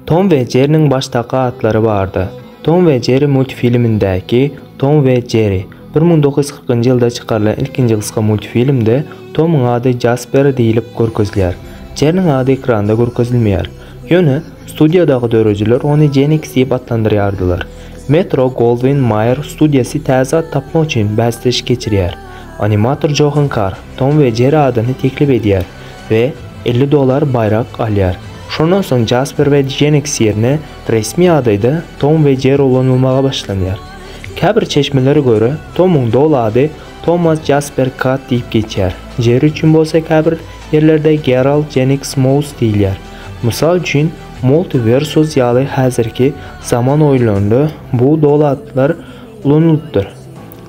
Tom we Jeriniň başdaky atlary bardy. Tom we Jeri multfilmindäki Tom we Jeri. Bir müň dokuz ýüz kyrkynjy ýylda çykarylan ilkinji gysga multfilmde Tomyň ady Jasper diýlip görkezilýär. Jeriniň ady ekranda görkezilmeýär. Ýöne, studiýadaky döredijiler ony Jenix diýip atlandyrýardylar. Metro Goldwyn Mayer studiýasy täze at tapmak üçin bäsleşik geçirýär. Animator Johan Karr Tom we Jeri adyny teklip edýär. we elli dollar baýrak alýar. Şondan soň Jasper we Jennings ýerine resmi adaýda Tom we Jerry ulanylmaga başlanýar. Käbir çeşmelere görä, Tomyň doly ady Thomas Jasper Katt diýip geçýär, Jerry üçin bolsa käbir ýerlerde Gerald Jennings Mouse diýilýär. Mysal üçin, Multiversus ýaly häzirki zaman oýunlarynda bu doly atlar ulanylypdyr,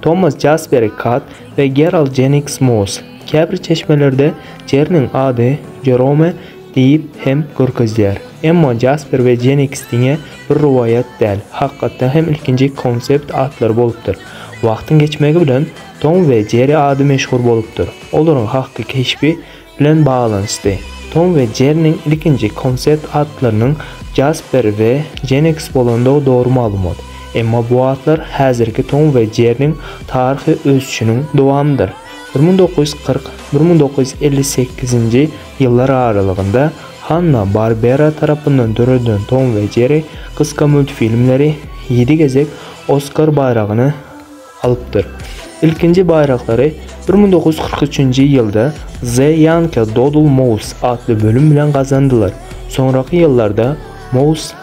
Thomas Jasper Katt we Gerald Jennings Mouse. Käbir çeşmelerde Jerniň ady Jerome diýip hem görkezýär. Emma Jasper we Jeniks diňe bir rowaýat däl, hakykatda hem ilkinji konsept atlary bolupdyr. Wagtyň geçmegi bilen Tom we Jeri ady meşhur bolupdyr. Olaryň hakyky keşbi bilen baglanyşdy. Tom we Jerniň ilkinji konsept atlarynyň Jasper we Jeniks bolandygy dogry maglumat. Emma bu atlar häzirki Tom we Jerniň taryhy ösüşiniň dowamydyr. Bir müň dokuz ýüz kyrk, bir müň dokuz ýüz elli sekizinji ýyllar aralygynda Hanna-Barbera tarapyndan döredilen Tom we Jerri gysga multfilmleri ýedi gezek Oskar baýragyny alypdyr. Ilkinji baýraklary bir müň dokuz ýüz kyrk üçünji ýylda The Yanka Doodle Mouse atly bölüm bilen gazandylar. Soňraky ýyllarda Mouse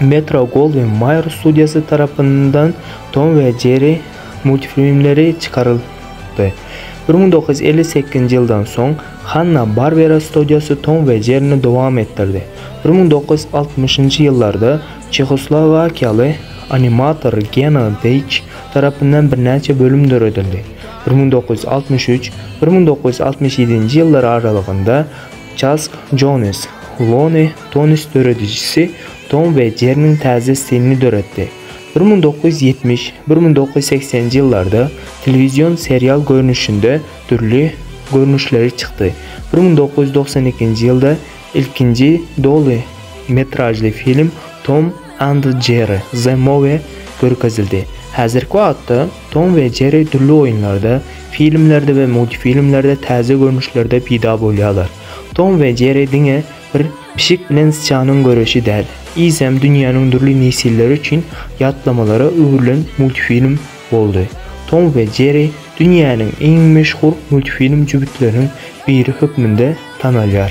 Metro-Goldwyn-Mayer studiýasy tarapyndan Tom we Jerri multfilmleri çykaryldy. Bir müň dokuz ýüz elli sekizinji ýyldan soň Hanna-Barbera studiýasy Tom we Jerrini dowam etdirdi. Bir müň dokuz ýüz altmyşynjy ýyllarda çehoslowakiýaly animator Gena Deýç tarapyndan birnäçe bölüm döredildi. Bir müň dokuz ýüz altmyş üç, bir müň dokuz ýüz altmyş ýedinji ýyllar aralygynda Çarlz Jones, Lonely Tones döredijisi Tom we Jerryniň täze stilini döretdi. Bir müň dokuz ýüz ýetmiş, bir müň dokuz ýüz segsen ýyllarda telewizion serial görnüşinde dürli görnüşleri çykdy. Bir müň dokuz ýüz doksan ikinji ýylda ilkinji doly metražly film Tom and Jerry The Movie görkezildi. Häzirki wagtda Tom we Jerry dürli oýunlarda, filmlerde we multfilmlerde täze görnüşlerde peýda bolýarlar. Tom we Jerry diňe bir pişik bilen syçanyň göreşi däl, eýsem dünýäniň dürli nesilleri üçin ýatlamalara öwrülen multfilm boldy. Tom we Jerry dünýäniň iň meşhur multfilm jübütleriniň biri hökmünde tanalýar.